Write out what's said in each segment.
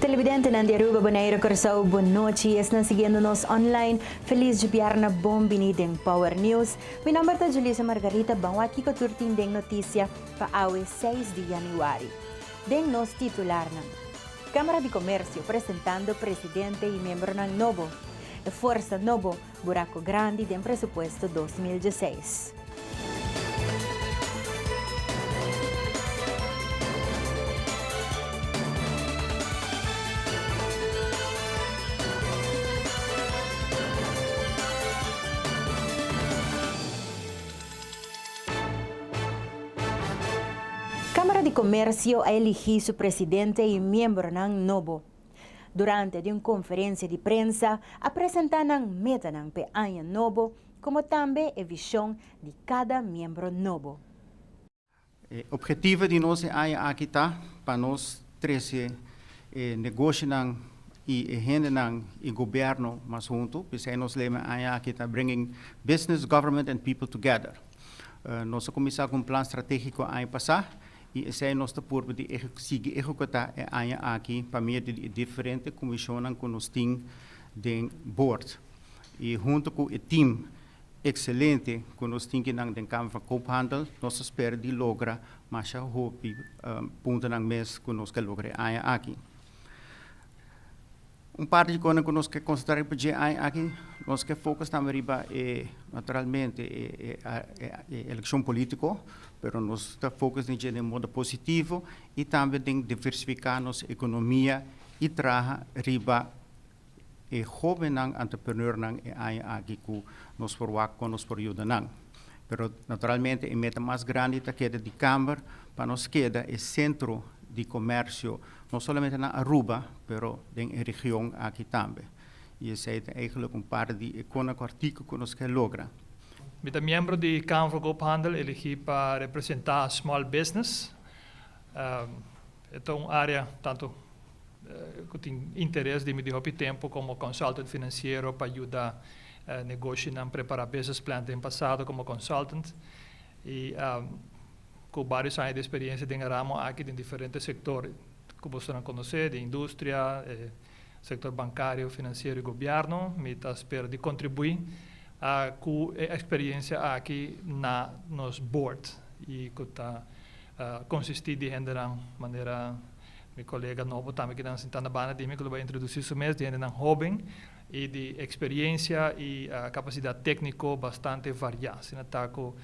Televidentenan di Aruba, Bonaire, Curaçao, bon nochi y esnan siguiendo nos online. Feliz Djibierna, bon bini den Power News. Mi nomber ta Julissa Margarita, ban wak kico tur tin den noticia pa awe seis di Januari. Den nos titularnan. Camara di Comercio presentando presidente y miembronan nobo. E fuerza nobo. Buraco grandi den presupuesto dos mil dieseis. Camara di Comercio a eligi su presidente y miembronan nobo. Durante di un konferensia di prensa a presentá nan metanan p'e aña nobo komo tambe e vishon di kada miembro nobo. E opgetivo di nos e aña aki ta pa nos trese e negoshonan i e hendenan i gobièrnu mas huntu. P'esei nos lema e aña aki ta Bringing Business, Government and People Together. Nos a kuminsá ku un plan stratégiko aña pasá I esei nos ta purba di sigui ehekutá e aña aki pa medio di e diferente kumishonnan ku nos tin den bord i huntu ku e tim ekselente ku nos tin kinan den Kamer van Koophandel nos ta spera di logra masha hopi puntonan mes ku nos ke logra e aña aki. Un parti di kone'e ku nos ke konsentrá riba dje aña aki, nos ke fokus tambe riba e, naturalmente, e elekshon polítiko, pero nos ta fokus den dje den modo positivo i tambe den diversifiká nos ekonomia i traha riba e hóbennan antreprenornan e aña aki ku nos por wak kon nos por yuda nan. Pero, naturalmente, e meta mas grandi ta keda di Kamber pa nos keda e sentro di komèrsio. No solamente na Aruba, pero den e region aki tambe. Y esey ta eigenlijk un parte di e conaco artico cu nos ke logra. Mi ta miembro di Kamer van Koophandel elegi pa representa small business. E ta un area tanto cu tin interes di mi di hopi tempo como consultant financiero pa yuda negoshinan prepara business plan den pasado como consultant. Y. Cu barios aña di experiencia den e ramo aki den diferente sector cu boso nan conoce, di industria, e sector bancario, financiero y gobierno, mi ta spera di contribui cu e experiencia aki na nos board y cu ta consisti di hendenan manera mi colega nobo tambe kinan sinta na banda di mi cu lo bay introduci su mes, di hendenan hoben y di experiencia y capacidad tecnico bastante varia, asina ta cu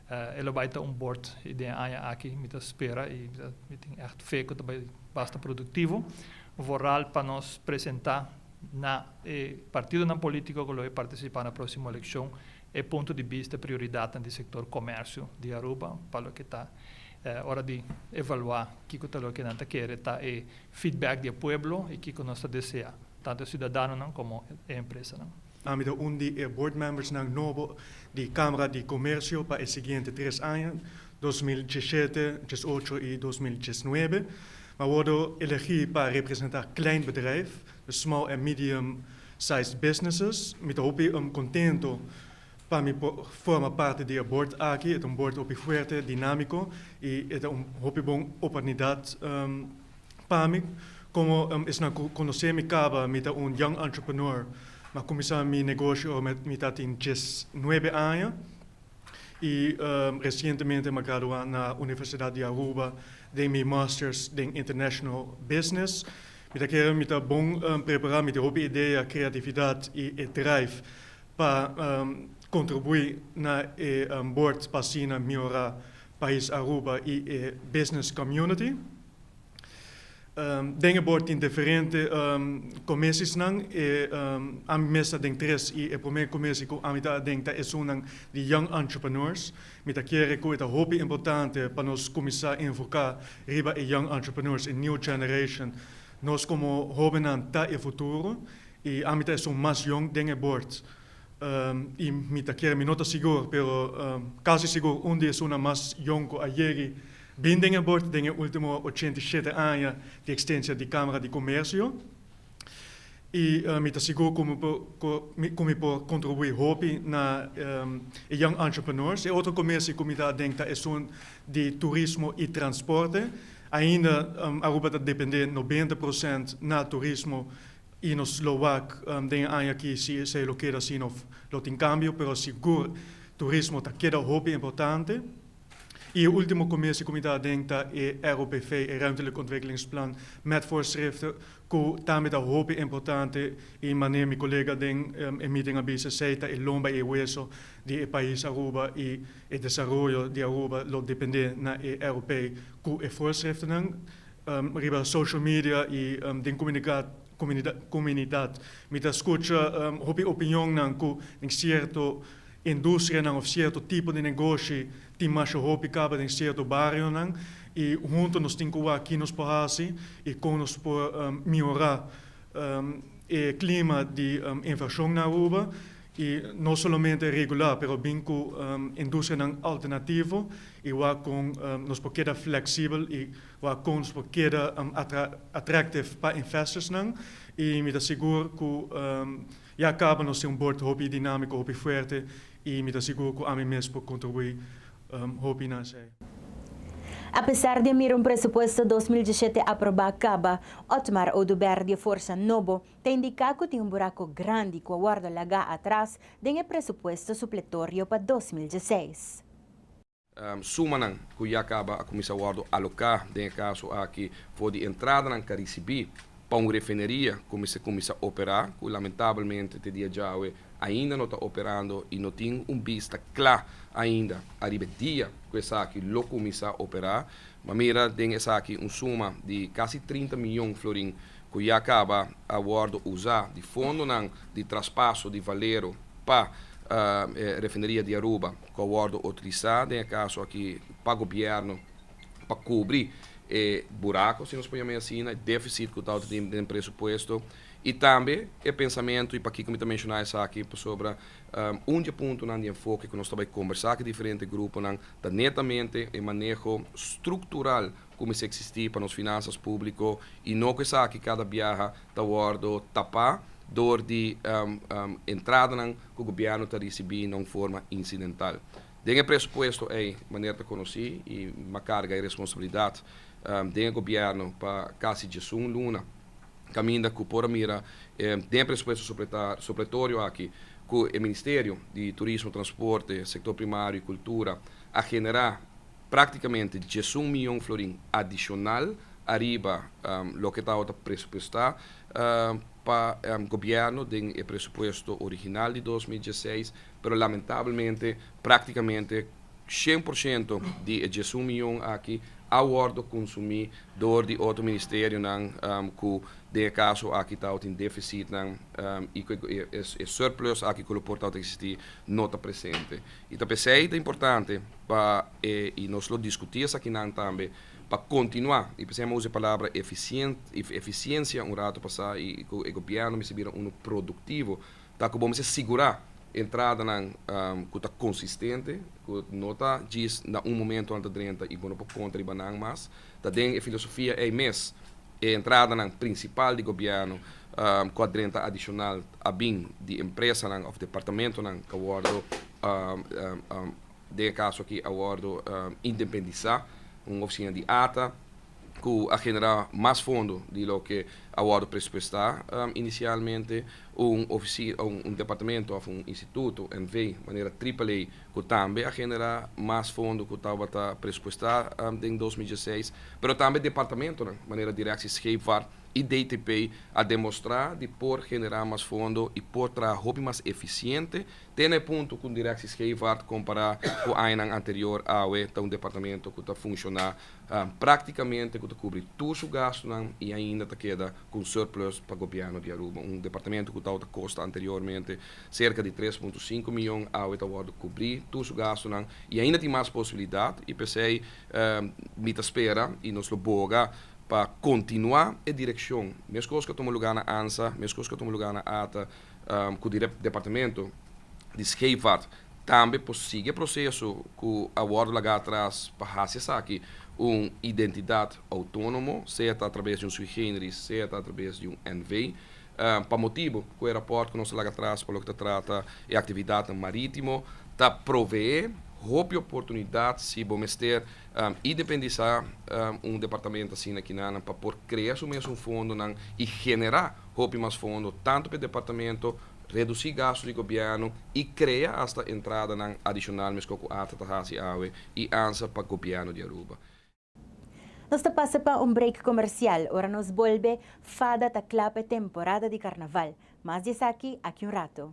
E lo bai ta un bord y den e aña aki mi ta spera y mi tin echt fe cu ta bai basta productivo, vooral pa nos presenta na e partidonan politico cu lo e participa na proximo eleccion e punto di bista y prioridadnan di sector comercio di Aruba pa loke ta ora di evalua kico ta loke nan ta kere ta e feedback di e pueblo y kico nos ta desea tanto e ciudadanonan como e empresanan. Ami ta un di e bordmembersnan nobo di Kamara di Komersio pa e siguiente tres aña, dos mil diesete, dies ocho i dos mil dies nuebe. Mi a wòrdu elegí pa representá klein bedrijf, dus small en medium sized businesses. Mi ta hopi kontentu pa mi por forma parti di e bord aki. E ta un bord hopi fuerte, dinámiko i e ta un hopi bon oportunidat Pa mi, como esnan cu conoce mi caba mi ta un young entrepreneur, m'a cuminsa mi negoshi ora mi ta tin dies nuebe aña y recientemente m'a gradua na Universidad di Aruba den mi Masters den International Business. Mi ta kere mi ta bon prepara, mi tin hopi idea, creatividad y e drive pa contribui na e bord pa asina mihora pais Aruba y e business community. Den e bor tin diferente komesisnan. Ami mes ta den tres i e promé komesi ku ami ta aden ta esunnan di Young Entrepreneurs. Mi ta kere ku e ta hopi importante pa nos kuminsá enfoká riba e Young Entrepreneurs, e New Generation. Nos komo hóbennan ta e futuro i ami ta esun mas yong den e bord. y mi ta kere, mi no ta sigur, pero casi sigur un di esunnan mas yong cu a yegi bin den e bord den e ultimo ochenta y shete aña di extensia di Camara di Comercio y mi ta sigur cu mi por cu mi por contribui hopi na e young entrepreneurs. E otro comerci cu mi ta aden ta esun di turismo y transporte. Ainda Aruba ta depende nobenta procent na turismo Y nos lo wak den e aña aki si esey lo keda asina of lo tin cambio, pero sigur turismo ta keda hopi importante. Y e ultimo comes di comitad aden ta e ROPV, e Ruimtelijk Ontwikkelingsplan met voorschriften, cu tambe ta hopi importante y maneer mi colega den e meeting a bisa esey ta e lomba y e hueso di e pais Aruba y e desaroyo di Aruba lo depende na e ROPV cu e voorschriftennan. Riba social media i den komunidat mi ta skucha hopi opinionnan ku den sierto industrianan òf sierto tipo di negoshi tin masha hopi kaba den sierto barionan i huntu nos tin ku wak ki nos por hasi i kon nos por miora e klima di invershon na Aruba Y no solamente regular pero bin cu industrianan alternativo y wak con nos por keda flexible y wak con nos por keda attractive pa investorsnan. Y mi ta sigur cu ya caba nos tin un board hopi dinamico, hopi fuerte y mi ta sigur cu ami mes por contribui hopi na esey. Apesar di a mira un presupuesto dos mil dieschete aproba caba, Otmar Oduber di a forsa nobo Ta indiká ku tin un buraku grandi ku a wòrdu lagá atras den e presupuesto supletorio pa dos mil dieseis. Sumanan ku ya kaba a kuminsá wòrdu aloká den e kaso aki for di entradanan ka risibí pa un refineria ku mester kuminsá operá, ku lamentabelmente te dia djawe ainda no ta operando i no tin un bista kla ainda ariba e dia ku esaki lo kuminsá operá. Bo a mira den esaki un suma di kasi trinta mion florin ku ya kaba a wòrdu usá di fondonan di traspaso di Valero pa e Refineria di Aruba, ku a wòrdu utilisá den e kaso aki pa gobièrnu pa kubri e burako, si nos por yama e asina, e défisit ku ta outrint den presupuesto, i tambe e pensamentu, i pakiko mi ta menshoná esaki, pasobra un di e puntonan di enfoke ku nos ta bai kombersá ku diferente gruponan ta netamente e maneho struktural. ku mester eksistí pa nos finansas públiko i no ku esaki kada biaha ta wòrdu tapá dor di entradanan ku gobièrnu ta risibí na un forma insidental. Den e presupuesto ei manera ta konosí i m'a karga e responsabilidat den e gobièrnu pa kasi djesun luna kaminda ku por a mira den e presupuesto supletorio aki ku e Ministerio di Turismo, Transporte, Sektor Primario i Kultura a generá. Práktikamente diesun mion florin adishonal ariba loke tabata presupuestá pa gobièrnu den e presupuesto original di dos mil diesseis, pero lamentablemente práktikamente shen por shento di e diesun mion aki a wòrdu konsumí dor di otro ministerionan ku den e kaso aki tabatin defisitnan i ku e surplus aki ku lo por tabata eksistí no ta presente. I ta p'esei ta importante. Pa e, i nos lo diskutí esaki nan tambe, pa kontinuá, i p'esei mi a usa e palabra efisient, efisiensia un ratu pasá, i ku e gobièrnu mester bira unu produktivo, ta ku bo mester sigurá entradanan ku ta konsistente, ku no ta djis na un momentu nan ta drenta i bo no por konta riba nan mas. Ta den e filosofia ei mes e entradanan prinsipal di gobièrnu ku a drenta adishonal a bin di empresanan òf departamentunan ku a wòrdu Den e kaso aki a wòrdu independisá un ofisina di ata ku a generá mas fondo di loke a wòrdu presupuestá inisialmente. Un ofisina, un departamentu òf un instituto, NV. manera AAA ku tambe a generá mas fondo ku tabata presupuestá den dos mil dieseis. Pero tambe departamentunan manera direkshi scheepvaart i DTP a demostrá di por generá mas fondo i por traha hopi mas efisiente, Te na e punto cu Directie Scheevaart compara cu añanan anterior awe ta un departamento cu ta funciona practicamente cu ta cubri tur su gastonan y ainda ta keda cu un surplus pa Gobierno di Aruba. Un departamento cu tawata costa anteriormente cerca di tres punto sinku miyon awe ta wordo cubri tur su gastonan y ainda tin mas posibilidad y p'esey mi ta spera y nos lo boga pa continua e direccion, mescos cu a tuma lugar na ansa, mescos cu a tuma lugar na ata. ku di Departamento di Scheepvaart tambe por sigui e proseso ku a wòrdu lagá atras pa hasi esaki un identidat outónomo, sea ta atrabes di un sui generis, sea ta atrabes di un NV. Pa motibu ku e rapòrt ku nos a laga atras pa loke ta trata e aktividatnan marítimo ta proveé hopi oportunidat si bo mester independisá un departamento asina kinan pa por krea su mes un fondonan i generá Hopi mas fondo tantu pa e departamento, redusi gastu di gobièrnu i krea asta entradanan adishonal meskos ku Arta ta hasi awe i ansa pa gobièrnu di Aruba. Nos ta pasa pa un break komersial. Ora nos bolbe, Fada ta kla pa e temporada di karnaval. Mas di esaki aki un rato.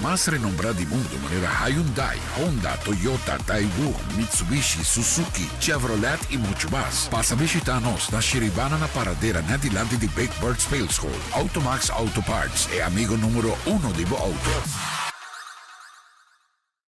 mas renombrá di mundu manera Hyundai, Honda, Toyota, Daewoo, Mitsubishi, Suzuki, Chevrolet i muchu mas. Pasa bishitá nos na Shiribana na paradera net dilanti di Big Bird Speelschool. Automax Auto Parts, e amigo número uno di bo outo.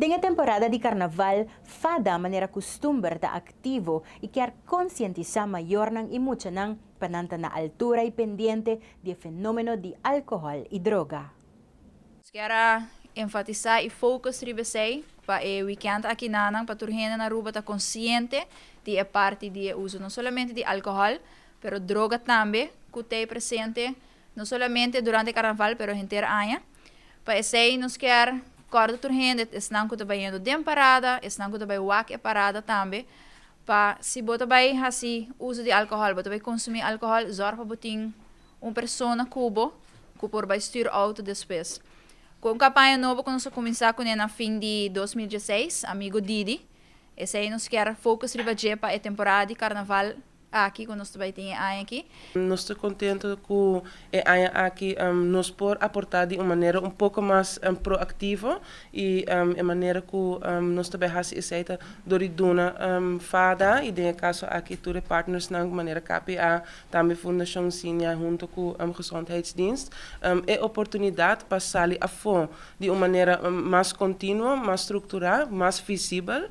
Den e temporada di karnaval, FADA manera kustumber ta aktivo i kier konsientisá mayornan i muchanan pa nan ta na altura i pendiente di e fenómeno di alkohòl i droga. Quiero enfatisa y focus riba esey pa e weekend akinanan pa tur hende na Aruba ta consciente di e parti di e uso no solamente di alcohol pero droga tambe cu ta e presente no solamente durante Carnaval pero henter aña. Pa esey nos kier corda tur hende, esnan cu ta bay yendo den parada, esnan cu ta bay wak e parada tambe pa si bo ta bay haci uso di alcohol, bo ta bay consumi alcohol zorg pa bo tin Un persona ku bo ku por bai stür outo despues. Ku un kampaña nobo ku nos a kuminsá kuné na fin di dos mil dieseis, amigu Didi, esei nos kier focus riba dje pa e temporada di karnaval aki ku nos ta bai tin e aña aki. Nos ta kontentu ku e aña aki nos por aportá di un manera un poko mas proaktivo i e manera ku nos ta bai hasi esei ta dor di duna fada i den e kaso aki tur e partnersnan manera KPA Tambe Fundashon Siña huntu ku Gezondheidsdienst e oportunidat pa sali afó di un manera mas kontinuo, mas strukturá, mas visibel.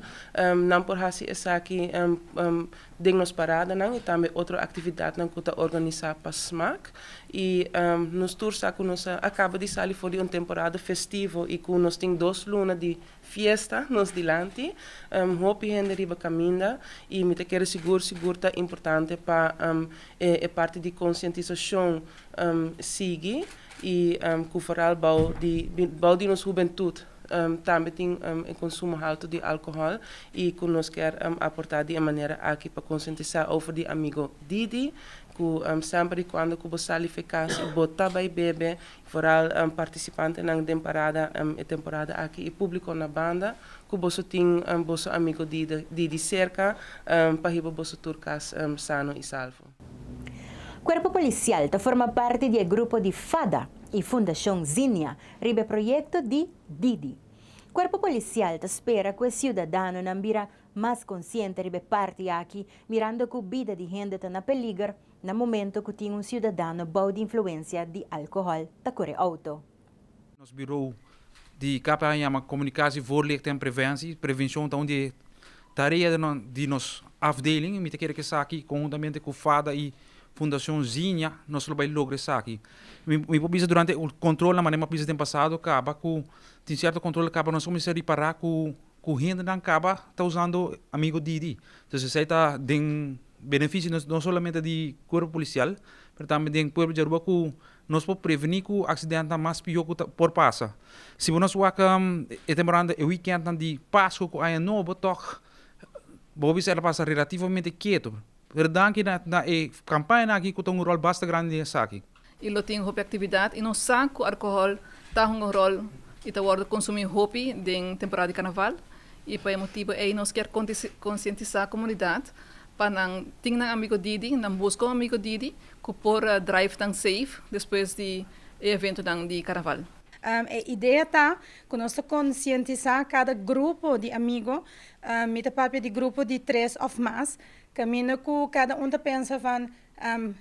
Nan por hasi esaki den nos paradanan i tambe otro aktividatnan ku ta organisá pa smaak. I nos tur sa ku nos a kaba di sali for di un temporada festivo i ku nos tin dos luna di. Fiesta nos dilanti, hopi hende riba kaminda i mi ta kere sigur sigur ta importante pa e parti di konsientisashon sigui i ku foral bou di bou di nos hubentut tambe tin e konsumo haltu di alkohòl i ku nos kèr aportá di e manera aki pa konsientisá over di amigo Didi ku semper i kuando ku bo sali fekasi bo ta bai bebe Foral partisipantenan den parada e temporada aki i públiko na banda ku boso tin boso amigu di di serka pa hiba boso tur kas sano i salvo. Kuerpo Polisial ta forma parti di e grupo di FADA i Fundashon Zinnia riba e proyekto di Didi. Kuerpo Polisial ta spera ku e siudadanonan bira mas konsiente riba e parti aki mirando ku bida di hende ta na peliger na momento cu tin un ciudadano bao di influencia di alcohol ta core auto. Nos Bureau di KPH a yama Comunicatie, Voorlichting en Preventie. Prevencion ta un di e tarea di nos afdeling y mi ta kere cu esaki conjuntamente cu FADA y Fundacion Zinnia nos lo bay logra esaki. Mi por bisa durante e controlnan, manera mi a bisa den pasado, caba cu tin cierto controlnan caba nos a cuminsa ripara cu Ku hendenan kaba ta usando amigo DD. Entonces esei ta den benefishi no solamente di Cuerpo Policial pero tambe den pueblo di Aruba ku nos por preveni ku aksidentenan mas piho ku ta por pasa. Si bo nos wak e temporada e wikèntnan di Pasku ku Aña Nobo tòg bo bisa el a pasa relativamente ketu. Pero danki na e kampañanan aki ku ta un ròl basta grandi den esaki. I lo tin hopi aktividat i nos sa ku alkohòl ta hunga ròl i ta wòrdu konsumí hopi den temporada di karnaval. I pa e motibu ei nos kier konsientisá komunidat pa nan tin nan amigo didi, nan buska un amigo didi ku por drive nan safe despues di e eventonan di karnaval. E idea ta ku nos ta konsientisá kada grupo di amigo, mi ta papia di grupo di tres òf mas, kaminda ku kada un ta pensa van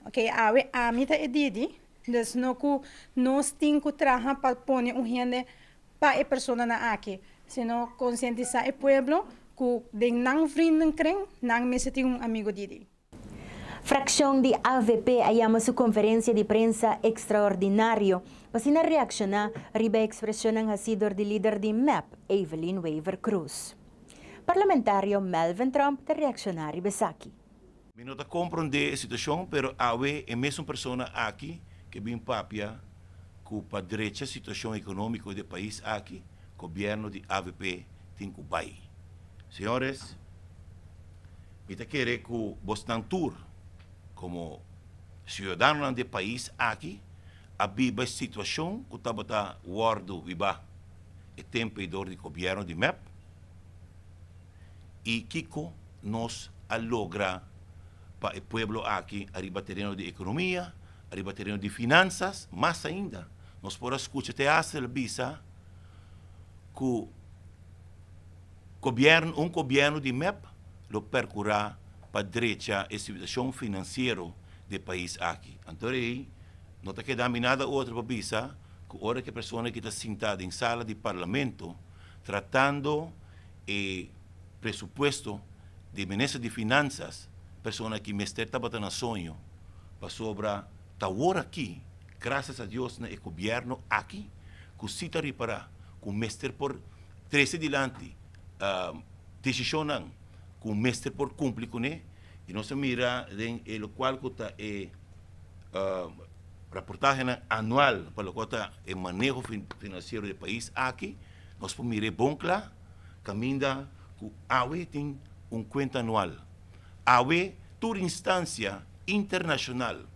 Ok, awe ami ta e Didi, dus no ku nos tin ku traha pa pone un hende pa e personanan aki, sino konsientisá e pueblo ku den nan vrinden kren nan mester tin un amigu Didi. Frakshon di avp a yama su konferensia di prensa ekstraordinario pa asina reakshoná riba e ekspreshonnan hasí dor di lider di mep, Evelyn Wever-Croes. Parlamentario Melvin Tromp ta reakshoná riba esaki. Mi no ta comprende e situacion pero awe e mesun persona aki ke bin papia ku pa drecha situacion economico de pais aki gobierno di avp tin ku bai. Señores mi ta kere ku bosnan tur como ciudadanonan de pais aki a biba e situacion ku tabata wordo biba e tempo ei dor di gobierno di mep. y kico nos a logra pa e pueblo aki ariba tereno di economia, ariba tereno di finanzas, mas ainda nos por a scucha te Hassel bisa cu gobierno, un gobierno di mep lo percura pa drecha e situacion financiero di e pais aki. Anto de ahí no ta keda mi nada otro pa bisa cu ora ki e persona aki ta sinta den sala di parlamento tratando. e presupuesto di minister di finansas persona ki mester tabata na soño pasobra ta awor aki grasias a Dios na e gobierno aki ku si ta ripara ku mester por trese dilanti desishonnan ku mester por kumpli kuné i nos a mira den e lokual ku ta e raportahenan anual pa loke ta e maneho finansiero di e pais aki. Nos por mira e bon cla caminda cu awe tin un cuenta anual. Awe tur instancia internacional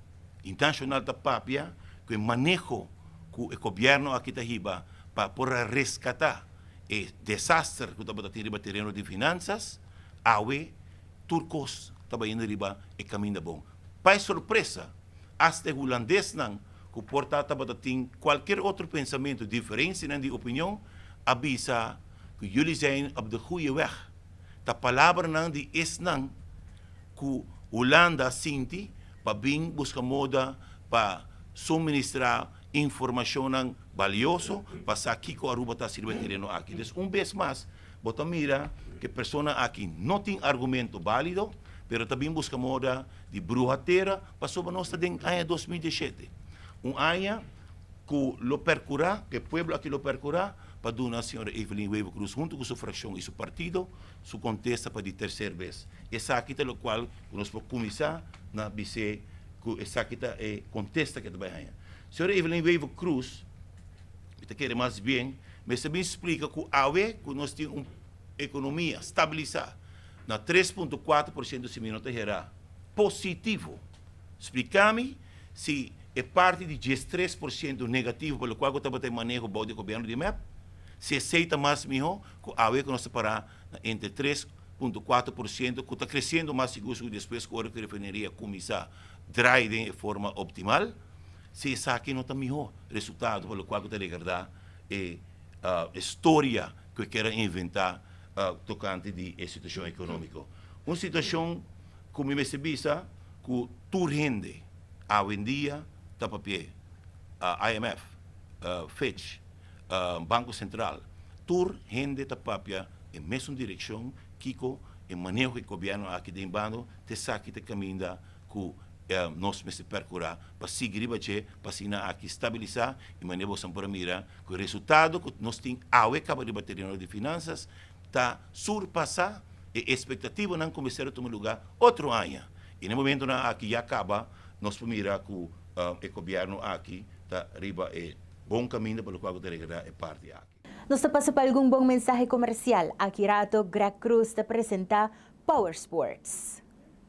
y nacional ta papia cu e maneho cu e gobierno aki ta hiba pa por a rescata e desaster cu tabata tin riba tereno di finanzas, awe tur cos ta bayendo riba e caminda bon. Pa e sorpresa, hasta e hulandes nan ku por ta tabata tin kualkier otro pensamentu diferensianan di opinion, a bisa ku Jullie zijn op de goeie weg. Ta palabranan di esnan ku Hulanda sinti pa bin buska moda pa suministrá informashonnan balioso pa sa kiko Aruba ta hasiendo tereno aki. Des un bes mas. Bo ta mira ku e persona aki no tin argumento bálido, pero ta bin buska moda di bruha tera pasobra nos ta den aña dos mil dieshete, un aña ku lo perkurá, ku e pueblo aki lo perkurá pa duna señora Evelyn Wever Croes huntu ku su frakshon i su partido su kontesta pa di terser bes. Esaki ta lokual ku nos por kuminsá na bis'é ku esaki ta e kontesta ku e ta bai haña. Señora Evelyn Wever Croes. Mi ta kere mas bien mester bin splika ku awe ku nos tin un ekonomia stabilisá na tres punto kuater por siento si mi no ta herá positivo, spliká mi si e parti di dies tres por siento negativo pa lokual ku tabata e maneho bou di e gobièrnu di mep, si esei ta mas mihó ku awe ku nos ta pará na entre tres punto kuater por siento ku ta kresiendo mas sigur sigur despues ku ora ku e refineria a kuminsá drai den e forma optimal. Si esaki no ta mihó resultado pa lokual ku ta regardá e storia ku e kera inventá tokante di e situashon ekonómiko. Un situashon ku mi mester bisa ku tur hende awendia ta papi'é. IMF, Fitch, Banko Sentral, tur hende ta papia e mesun direkshon kiko e maneho ku e gobièrnu aki ta den bando ta esaki ta kaminda ku nos mester perkurá pa sigui riba dje pa asina aki stabilisá i manera boso nan por a mira ku e resultado ku nos tin awe kaba riba tereno di finansas ta surpasá e espektativanan ku mester a tuma lugá otro aña i na e momentunan aki ya kaba nos por mira ku e gobièrnu aki ta riba e bon kaminda pa lokual ku ta regredá e parti aki. Nos ta pasa pa algun bon mensahe komersial. Aki rato Greg Croes ta presentá Power Sports.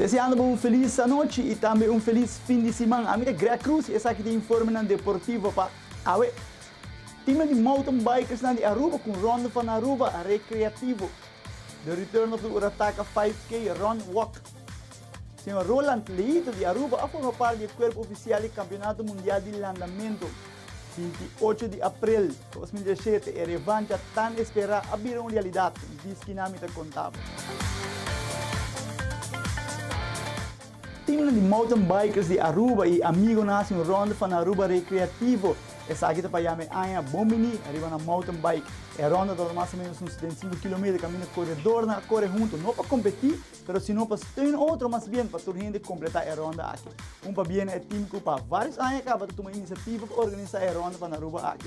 Deseando bo un felis anochi y tambe un felis fin di siman. Ami ta Greg Cruz y esaki ta informenan deportivo pa awe. Teamnan di mountain bikersnan di Aruba cu un ronda van Aruba recreativo. The return of the Urataka 5K Run Walk. Señor Roland Lehito di Aruba a forma parti di e kuerp ofisial di Kampionato Mundial di Landamentu. Sinti ocho di aprel dos mil diashete e revancha tan esperá a bira un realidat, diskinami ta konta bo. Teamnan di Mountain Bikers di Aruba y amigonan haci un ronda pa nan Aruba Recreativo. Esaki ta pa yama e aña Bon Bini riba nan Mountain Bike. E ronda tabata mas o menos un setenta i sinku kilometer caminda coredornan a core hunto, no pa competi, pero sino pa steun otro mas bien pa tur hende completa e ronda aki. Un pabia na e team cu pa varios aña caba ta tuma iniciativa pa organisa e ronda pa nan Aruba aki.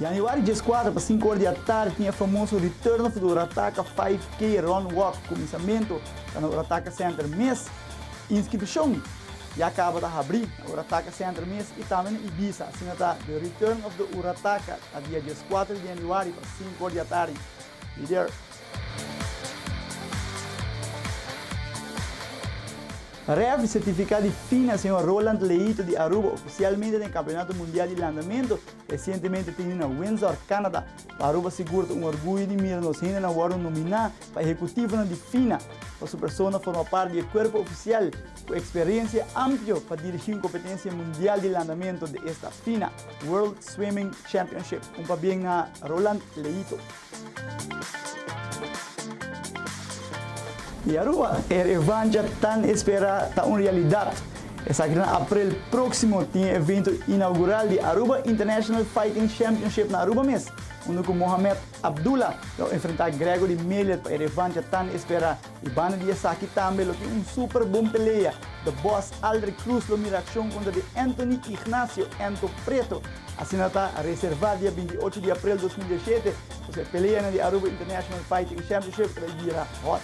Januari dieskuater pa sinku ora di atardi tin e famoso Return of the Urataka Five K Run Walk, kuminsamentu ta na Urataka Center mes. Inskripshon ya kaba ta habri na Urataka Center mes i tambe na Ibiza. Asina ta The Return of the Urataka ta dia dieskuater di januari pa sinku ora di atardi. Ref, Sertifiká di fina señor Roland Leito di Aruba ofisialmente den Kampionato Mundial di Landamentu resientemente tene na Windsor, Canada. Pa Aruba sigur ta un orguyo di mira nos hende nan wòrdu nominá pa ehekutivonan di fina pa su persona forma parti di e kuerpo ofisial Cu experiencia amplio pa dirigi un competencia mundial di landamento de esta fina, World Swimming Championship, un pabien na Roland Leito. Y Aruba, e revancha tan espera ta un realidad. Esaki na aprel proximo tin e evento inaugural di Aruba International Fighting Championship na Aruba mes, unda cu Mohamed Abdullah lo enfrenta Gregory Melia pa e revancha tan espera. I banda di esaki tambe lo tin un super bon pelea. The Boss Aldrick Cruz lo mira akshon kontra di Anthony Ignacio Anto Preto. Asina ta reservá dia binti ocho di aprel dos mil diashete, kos e peleanan di Aruba International Fighting Championship ta bira hot.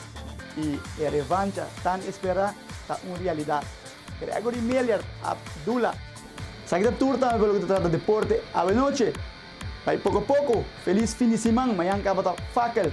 I e revancha tan esperá ta un realidat. Gregory Miller Abdullah. Esaki ta tur tambe pa loke ta trata deporte. Awe noche, bai poko a poko, felis fin di siman, mañan kaba ta Fakel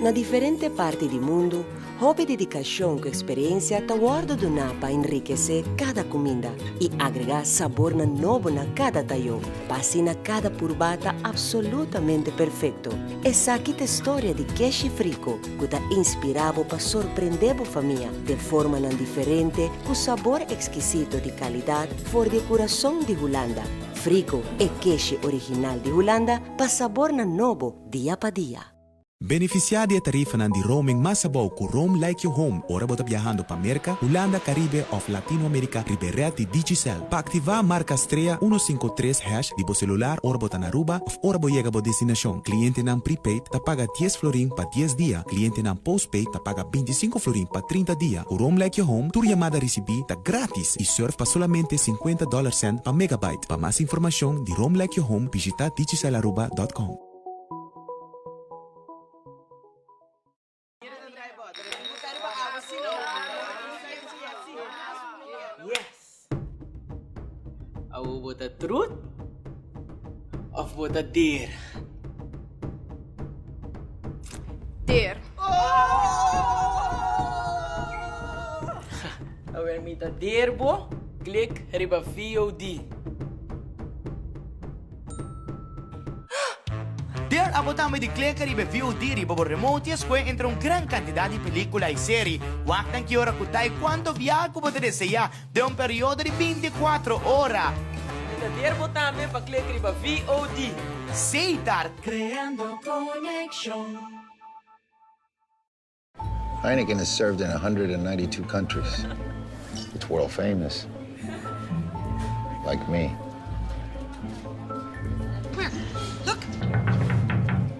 Na diferente parti di mundu, hopi dedikashon ku eksperensia ta wòrdu duná pa enrikesé kada kuminda i agregá sabornan nobo na kada tayó, pa asina kada purbá ta apsolutamente perfekto. Esaki ta e storia di Keshif Rico, ku ta inspirá bo pa sorprendé bo famia den formanan diferente ku sabor ekskisito di kalidat for di e kurason di Hulanda. Frico, e keshi original di Hulanda pa sabornan nobo. dia pa dia. Benefisiá di e tarifanan di roaming mas abou ku Roam Like Your Home ora bo ta biahando pa Merka, Hulanda, Karibe òf Latino Amerika riba e rèd di Digicel. Pa aktivá, marka strea uno sinku tres hash di bo selular ora bo ta na Aruba òf ora bo yega bo destinashon. Klientenan prepaid ta paga dies florin pa dies dia, klientenan postpaid ta paga binti sinku florin pa trinta dia. Ku Roam Like Your Home tur yamada risibí ta grátis i surf pa solamente sinkuenta dòler cent pa megabyte. Pa mas informacion di Rome Like Your Home bishita digicelaruba.com. Awo bo ta trut of bo ta dera? der. Awer mi ta der bo, klik riba VOD. Der abo tambe di klika riba e VOD riba bo remote i escoge entre un gran cantidad di pelicula i serie. Wak nan ki ora cu ta e cuanto viaha cu bo ta desea. Den un periodo di binti kuatro ora. Mi ta der bo tambe pa klek riba VOD. Seitar. Creando conexion. Heineken is served in a hundred and ninety two countries its world famous like me. Come here look.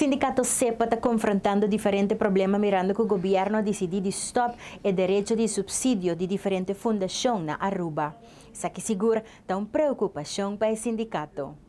Sindikato sepa ta konfrontando diferente problema mirando ku gobièrnu a disidí di stòp e derecho di supsidio di diferente fundashon na Aruba. Esaki sigur ta un preokupashon pa e sindikato.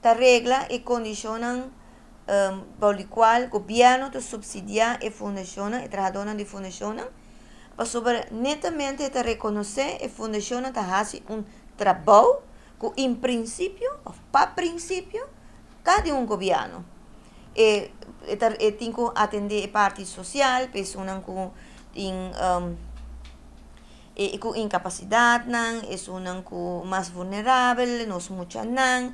Ta regla e condicionnan bou di cual gobierno ta subsidia e fundacionnan, e trahadornan di fundacionnan, pasobra netamente e ta reconoce e fundacionnan ta haci un trabou cu in principio of pa principio ta di un gobierno. E ta e tin cu atende e parti social, personan cu tin E ku inkapasidatnan, esunnan ku mas vulnerabel, nos muchanan,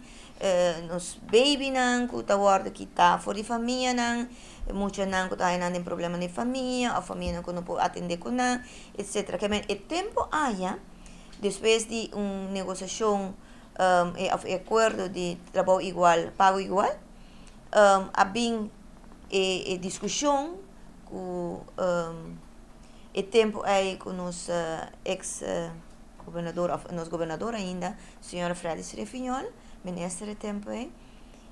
nos babynan ku ta wòrdu kitá for di famianan, muchanan ku ta haya nan den problema den famia òf famianan ku no por atendé ku nan, etcétera. Ke men e tempu aya, despues di un negosiashon òf e akuerdo di trabou igual, pago igual, a bin e diskushon ku. E tempu ei ku nos eks gobernador òf nos gobernador ainda señor Frèlix Refiñol minister e tempu ei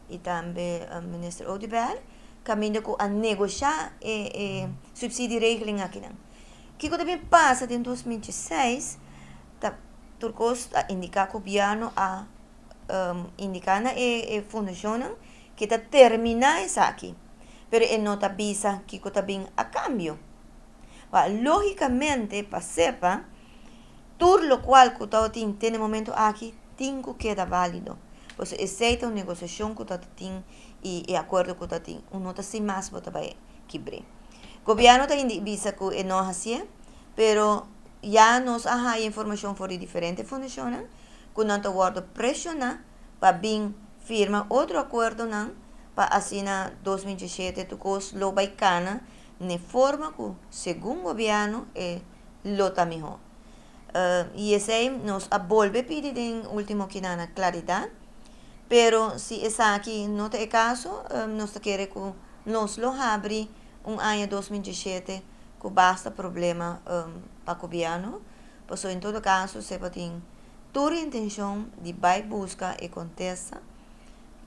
i tambe minister Oduber kaminda ku a negoshá e e supsidie regeling akinan kiko ta bin pasa den dos mil diesiseis ta tur kos a indiká gobièrnu a indiká na e fundashonnan Ki ta terminá esaki, pero e no ta bisa kiko ta bin a kambio. Ba, lógikamente pa sepa, tur lokual ku tawata tin te na momentu aki tin ku keda válido, pasobra esei ta un negosiashon ku tawata tin i e akuerdo ku ta tin. Un nota sin mas bo ta bai kibr'é. Gobièrnu ta hindik bisa ku e no a hasié, pero ya nos a haya informashon for di diferente fundashonnan ku nan ta wòrdu preshoná pa bin firma otro acuerdonan pa asina dos mil diesisiete tur cos lo bay cana n'e forma cu segun gobierno e lo ta miho. Y esey nos a bolbe pidi den ultimo kinana claridad, pero si esaki no ta e caso nos ta kere cu nos lo habri un aña dos mil diesisiete cu basta problema pa gobierno, pasobra en todo caso sepatin. Tur e intenshon di bai buska e kontesta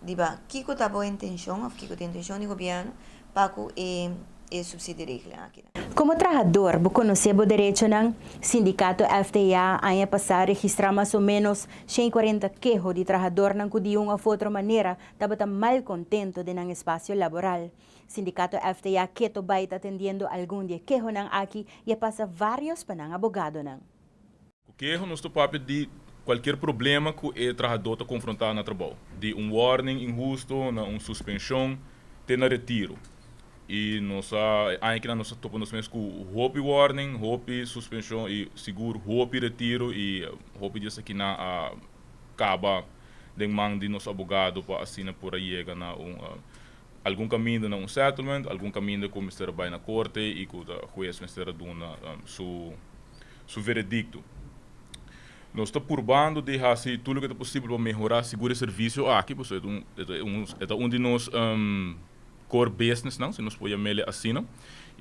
riba kiko ta bo intenshon òf kiko ta e intenshon di gobièrnu pa ku e e supsidio regla aki. Komo trahador bo konosé bo derechonan? Sindikato FTA aña pasá registrá mas o ménos shen i kuarenta keho di trahadornan ku di un òf otro manera tabata mal kontento den nan espasio laboral. Sindikato FTA keto bai ta atendiendo algun di e kehonan aki i a pasa varios pa nan abogadonan. Ku keho nos ta papia di kualker problema ku e trahadó ta konfrontá na trabou, di un wòrning inhusto na un suspenshon te na retiro. I nos a e aña kina nos a topa nos mes ku hopi wòrning, hopi suspenshon i sigur hopi retiro i hopi di esakinan a kaba den man di nos abogado pa asina por a yega na un algun kaminda na un settlement, algun kaminda ku mester a bai na korte i ku hues mester a duna su su veredicto. Nos ta purbando di haci tur loke ta posibel pa mehora sigur e servicio aki, pasobra e ta un e ta un e ta un di nos core businessnan, si nos por yam'ele asina,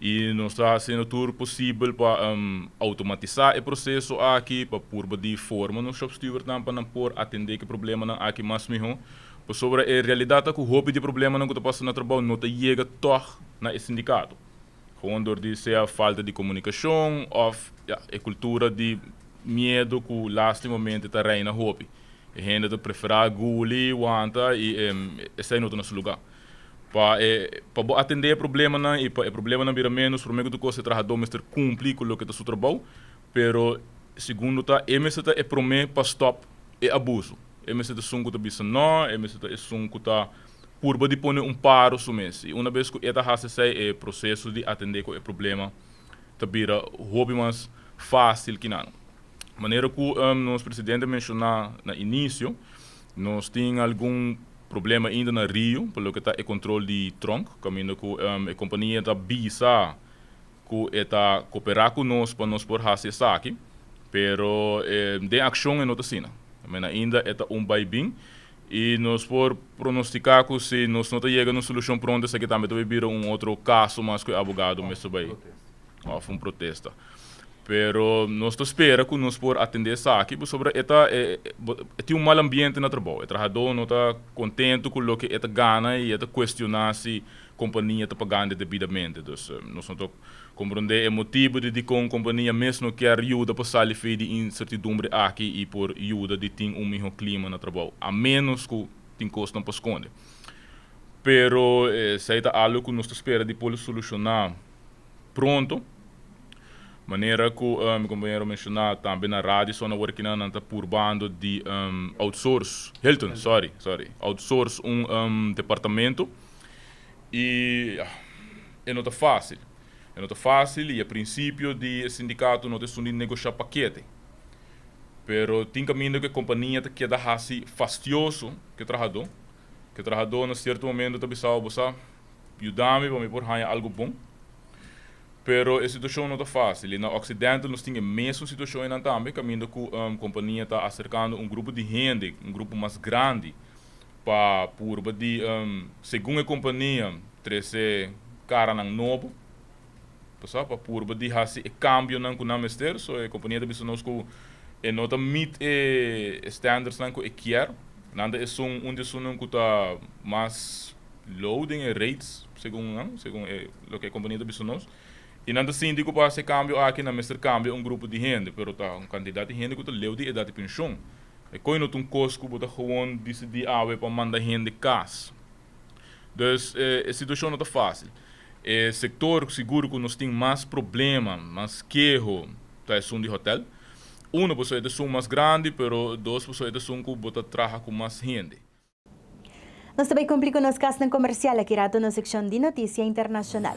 y nos ta haciendo tur posibel pa automatisa e proceso aki, pa purba di forma nos shopstewardnan pa nan por atende ki problemanan aki mas miho, pasobra e realidad ta cu hopi di e problemanan cu ta pasa na trabao no ta yega tog na e sindicato. Kon dor di sea falta di komunikashon òf ya e kultura di miedu ku lastimamente ta reina hopi. E hende ta preferá guli, wanta i esei no ta na su lugá. Pa e pa bo atendé e problemanan i pa e problemanan bira ménos promé ku tur kos e trahadó mester kumplí ku loke ta su trabou, pero segundo ta e mester ta e promé pa stòp e abusu. E mester ta esun ku ta bisa nò, e mester ta esun ku ta purba di pone un paro su mes i una bes ku e ta hasi esei e proseso di atendé ku e problema ta bira hopi mas fásil ki nan. Manera ku nos presidente menshoná na inisio, nos tin algun problema ainda na Rio pa loke ta e kontrol di tronk, kaminda ku e kompania ta bisa ku e ta koperá ku nos pa nos por hasi esaki, pero den akshon e no ta asina. Mena ainda e ta un bai bin. I nos por pronosticá cu si nos no ta yega na un solucion pronto esaki tambe ta bay bira un otro caso mas cu e abogado mester bay of un protesta. Pero nos ta spera cu nos por atende esaki pasobra e ta e e tin un mal ambiente na trabou. E trahador no ta contento cu loke e ta gana y e ta cuestiona si compania ta pagande debidamente. Dus nos no ta. Komprondé e motibu di dikon kompania mes no kier yuda pa sali fei di insertidumbre aki i por yuda di tin un mihó klima na trabou, a ménos ku tin kosnan pa skonde. Pero esei ta algu ku nos ta spera di por solushoná pronto. Manera ku mi kompañero menshoná tambe na radio so na workinan nan ta purbando di outsource, Hilton, sorry, sorry, outsource un departamento i. E no ta fásil. E no ta fásil i e prinsipio di e sindikato no ta esun di negoshá pakete. Pero tin kaminda ku e kompania ta keda hasi fastioso ku e trahadó, ku e trahadó na sierto momento ta bisaba, Bo sa, yuda mi pa mi por haña algu bon. Pero e situashon no ta fásil i na Occidental nos tin e mesun situashon einan tambe kaminda ku e kompania ta aserkando un grupo di hende, un grupo mas grandi, pa purba di, segun e kompania, trese karanan nobo, pasá pa purba di hasi e kambionan ku nan mester. So e kompania ta bisa nos ku e no ta meet e standardsnan ku e kier. Nan ta esun un di esunnan ku ta mas low den e rates, segun nan, segun e loke e kompania ta bisa nos. I nan ta sinti ku pa hasi e kambio aki nan mester kambia un grupo di hende, pero ta un kantidat di hende ku ta leu di edat di penshon. E koe no ta un kos ku bo ta gewoon disidí awe pa manda hende kas. Dus e situashon no ta fásil. E sektor ku sigur ku nos tin mas problema, mas keho, ta esun di hòtèl. Uno, pasobra e ta esun mas grandi, pero dos, pasobra e ta esun ku bo ta traha ku mas hende. Nos ta bai kumpli ku nos kasnan komersial. Aki rato nos sekshon di notisia internashonal.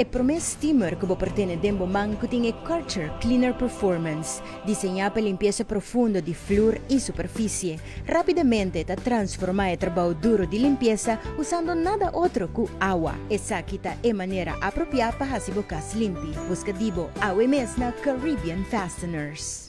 E promé steamer ku bo por tene den bo man ku tin e Karcher Cleaner Performance, diseñá pa limpiesa profundo di flur i superfisie, rápidamente ta transformá e trabou duro di limpiesa usando nada otro ku awa. Esaki ta e manera apropiá pa hasi bo kas limpi. Buska di bo awe mes na Caribbean Fasteners.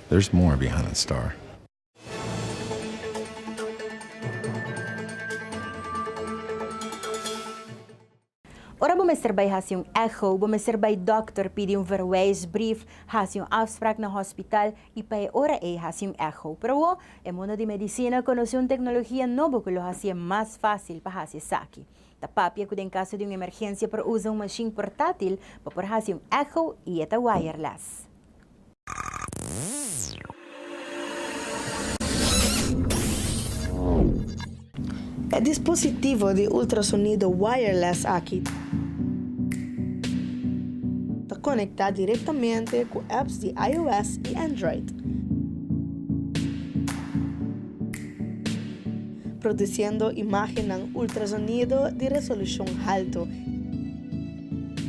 There's more behind star. Ora bo mester bai hasi un echo, bo mester bai dòkter pidi un verwijsbrief, hasi un afsprak na hospital i pa e ora ei hasi un echo. Pero awor, e mundo di medisina konosé un teknologia nobo ku lo hasié mas fásil pa hasi esaki. Ta papia ku den kaso di un emergensia por usa un mashin portátil pa por hasi un echo i e ta wireless. E dispositivo di ultrasonido wireless aki ta konektá direktamente ku apps di iOS i Android, produsiendo imágennan ultrasonido di resolushon haltu.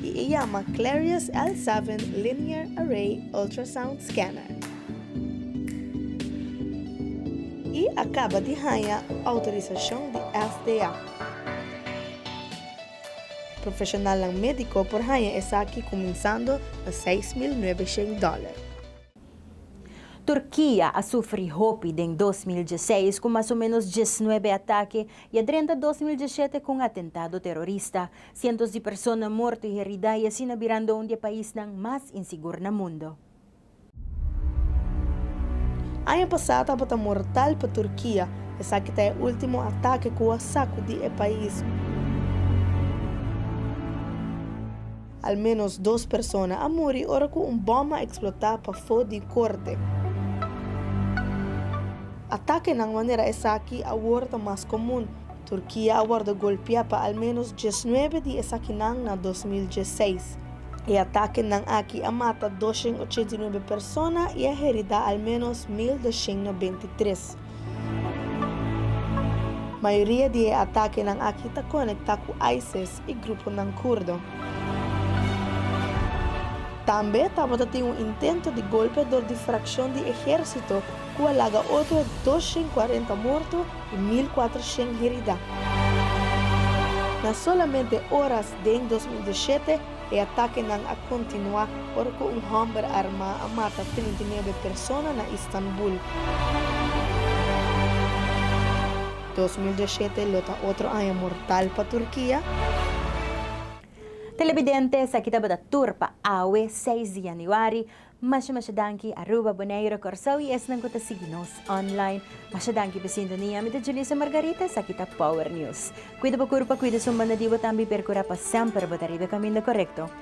y e yama Clarius L seven Linear Array Ultrasound Scanner. E a caba di haña autorisacion di FDA. Profesionalnan medico por haña esaki cuminsando na seis mil nuebeshent dollar. Turkia a sufri hopi den dos mil diesseis cu mas o menos diesnuebe atake y a drenta dos mil diesiete cu un atentado terorista. Sientos di persona morto i heridá i asina birando un di e paisnan mas insigur na mundo. Aña pasá tabata mortal pa Turkia. Esaki ta e último atake ku a sakudí e pais. Al ménos dos persona a muri ora ku un bòm a eksplotá pafó di korte. Atakenan manera esaki awor ta mas komun. Turkia a wordo golpia pa al menos diesnuebe di esakinan na dos mil diesseis. E atakenan aki a mata doshen ochenta i nuebe persona i a herida al menos mil doshen nobenta i tres. Mayoria di e atakenan aki ta konektá ku ISIS. i gruponan kurdo. Tambe tabata tin un intento di golpe dor di frakshon di ehérsito ku a laga otro dos shen kuarenta morto i mil kuater shen heridá. Na solamente oras den dos mil dieshete e atakenan a kontinuá ora un hòmber armá a mata trinta i nuebe persona na Istanbul. Dos mil diasiete lo ta otro aña mortal pa Turkia. Telebidente esaki tabata tur pa awe seis di Januari. Masha masha danki Aruba, Boneiru, Kòrsou i esnan ku ta sigui nos online. Masha danki pa sintonia. Mi ta Julissa Margarita, esaki ta Power News. Kuida bo kurpa, kuida su manadibo tambe i perkura pa semper bo ta riba e kaminda korekto.